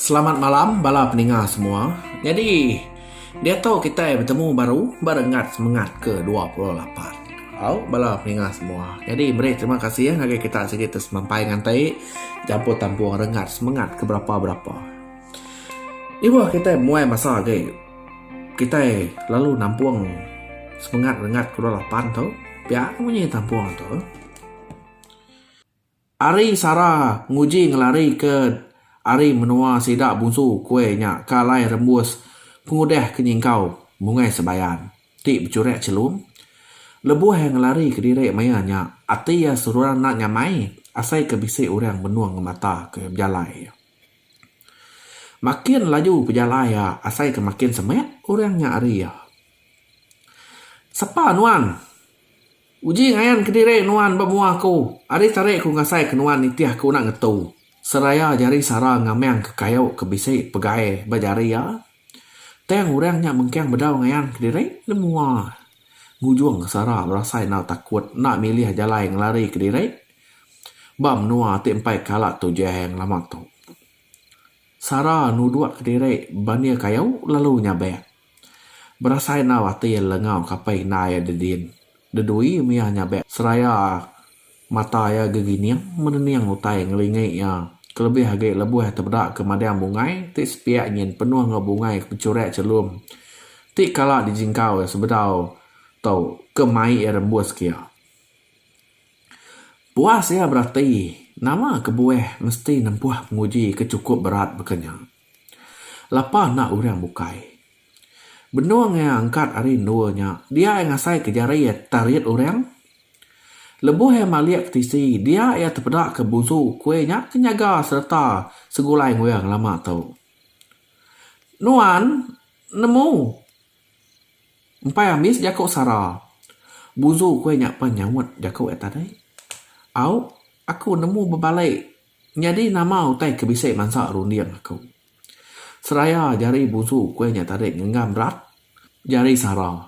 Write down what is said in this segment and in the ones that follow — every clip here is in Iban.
Selamat malam bala peninga semua. Nyadi diatu kitai betemu baru ba renggat semengat ke dua puluh lapan. Au bala peninga semua. Nyadi meri terima kasih ngagai kita sigi ti semampai nganti jampu tampung renggat semengat ke berapa berapa. Ibuh kitai muai masa agi kitai lalu nampung semengat renggat ke dua puluh lapan tu pia munyi tampung tu. Ari Sara nguji ngelari ke ari menua sida bunsu kuai nya ke alai rembus pengudah ke nyingkau mungai sebayan ti bechurak chelum. Lebuh iya ngelari kediri maya nya, ati iya seruran enda nyamai asai ke bisi orang benung ngemata ke bejalai iya. Makin laju pejalai iya asai ke makin semak orang nya ari iya. Sapa nuan? Uji ngayan kediri nuan ba mua aku. Ari tarik ku ngasai ke nuan nitih aku enda ngetu. Seraya jari sara ngamang ke kayu ke bisi pegai ba jari iya. Tang orang nya mengkang bedau ngayan kediri di mua. Ngujung sara berasai enda takut enda milih jalai ngelari kediri ba menua ti empai kala Tujang lama tu. Sara nuduk kediri ba ni kayu lalu nyabak. Berasai enggau ati le enggau kapai indai iya dedin. Dedui mia nyabe seraya mata iya gegining menening utai ngelingi iya kelebih agi lebuh iya tebeda ke madang bungai ti sepiak nyin penuh enggau bungai ke pechurak chelum ti kala dijingkau iya sebedau tau ke mai iya rembus ke iya. Puas iya berati nama kebuah mesti nempuh penguji ke chukup berat baka nya. Lapa enda orang bukai. Benung iya angkat ari endur nya, dia iya ngasaika jari iya terit orang. Lebuh iya malik ke tisi, dia iya tepedaka busu kuih nya ke nyaga sereta segulai enggau ngelama tu. Nuan nemu empai ambis jaku sara. Busu kuih nya pan nyaut jaku iya tadi. Au, aku nemu bebalai. Nyadi nama utai ke bisi mansa runding aku? Seraya jari busu kuih nya tadi ngenggam rak jari sara.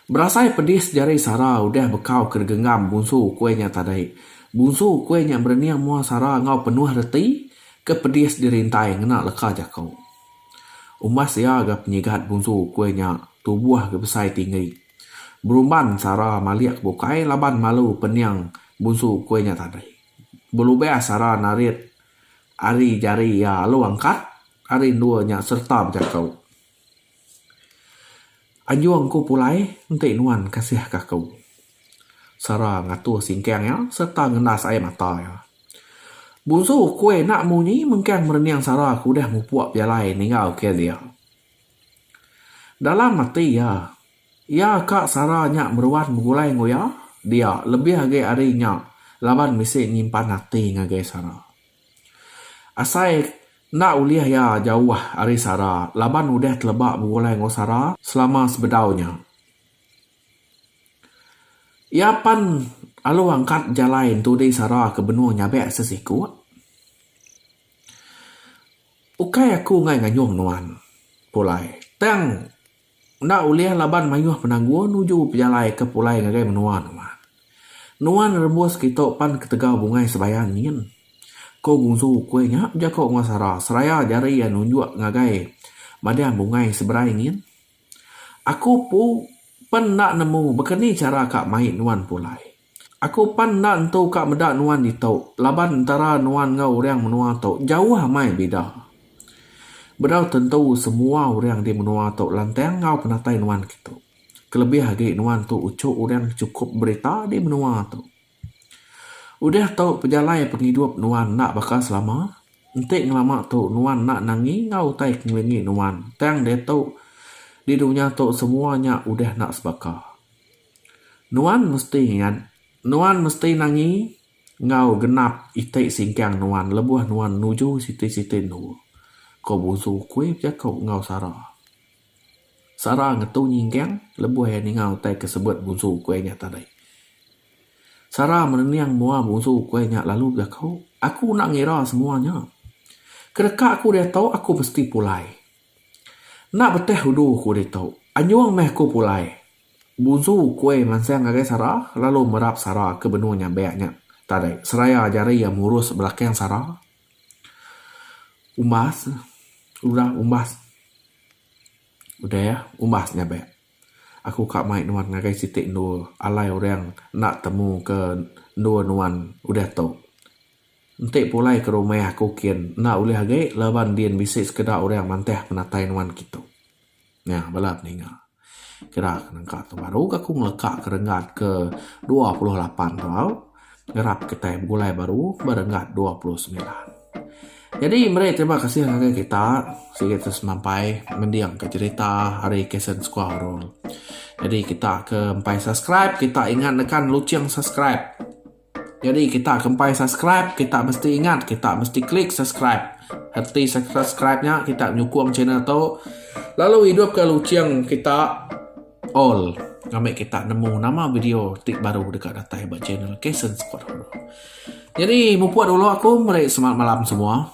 Berasai pedis jari sara udah bekau ke digenggam busu kuih nya tadi. Busu kuih nya berening mua sara enggau penuh reti ke pedis dirintai ngena leka jaku. Umbas iya ga penyigat busu kuih nya tubuh ga besai tinggi. Berumban Sara malik bukai laban malu pening bunsu ukui nya tadi. Belubih Sara narit ari jari iya alu angkat ari endur nya sereta bejaku, Anjung ku pulai enti nuan kasihka aku. Sara ngatuh singkang iya sereta ngendas ai mata iya. Bunsu ukui enda munyi mengkang merening Sara ke udah mupuk pejalai ninggalka dia. Dalam ati iya, iya ka sara nya meruan begulai enggau iya dia lebih agi ari nya laban bisi nyimpan ati ngagai sara. Asai enda ulih iya jauh ari sara laban udah teleba begulai enggau sara selama sebedau nya. Iya pan alu angkat jalai entudi sara ke benung nyabek sesiku. Ukai aku enggai ngayuh nuan, Pulai. Tang enda ulih laban mayuh penanggul nuju pejalaika pulai ngagai menua nuan. Nuan rembus kitu pan ketegal bungai sebayan nyin, ko Gunsu Ukui nya bejako enggau Sara seraya jari iya nunjuk ngagai madang bungai seberai nyin. Aku pu pen enda nemu baka ni chara ka mai nuan Pulai. Aku pan enda entu ka meda nuan ditu laban entara nuan enggau urang menua tu jauh amai bida. Bedau tentu semua urang di menua tu lantang enggau penatai nuan kitu. Kelebih agi nuan tu uchu urang ke chukup berita di menua tu. Udah tu pejalai pengidup nuan enda baka selama. Enti ngelama tu nuan enda nangi enggau utai ke ngelingi nuan tang diatu di dunya tu semua nya udah enda sebaka. Nuan mesti ingat, nuan mesti nangi enggau genap iti singkang nuan lebuh nuan nuju siti-siti endu, ko Busu Kui bejako enggau Sara. Sara ngetu nyingkang lebuh iya ninga utai ke sebut Busu Kui nya tadi. Sara merening mua Busu Kui nya lalu bejako, Aku enda ngira semua nya. Kedeka aku diatu aku mesti pulai. Enda beteh udu aku ditu, anjung meh aku pulai. Buzu Kuai mansang ngagai Sara lalu merap Sara ke benung nyabak nya. Tadi, seraya jari iya murus belakang Sara, umbas udah umbas udah umbas nyabak. Aku ka mai nuan ngagai siti endur alai orang enda temu ke endur nuan udah tu. Enti pulai ke rumah aku kin enda ulih agi laban din bisi sekeda orang mantah penatai nuan kitu. Nya bala peninga kira ke nengka tu baru ke aku ngeleka ke renggat ke dua puluh lapan tau ngerap kitai begulai baru ba renggat ke dua puluh semilan. Jadi meri terima kasih ngagai kita sigi ti semampai mending ka cerita ari Kasen Sekua Horor. Jadi kita ke empai subscribe kita ingat nekan lucheng subscribe. Jadi kita ke empai subscribe kita mesti ingat kita mesti klik subscribe. Reti subscribe nya kita nyukung channel tu lalu idup ke luching kita all ngambi kita nemu nama video ti baru deka datai ba channel kasen squad horror. Jadi mupuk dulu aku meri semangat malam semua.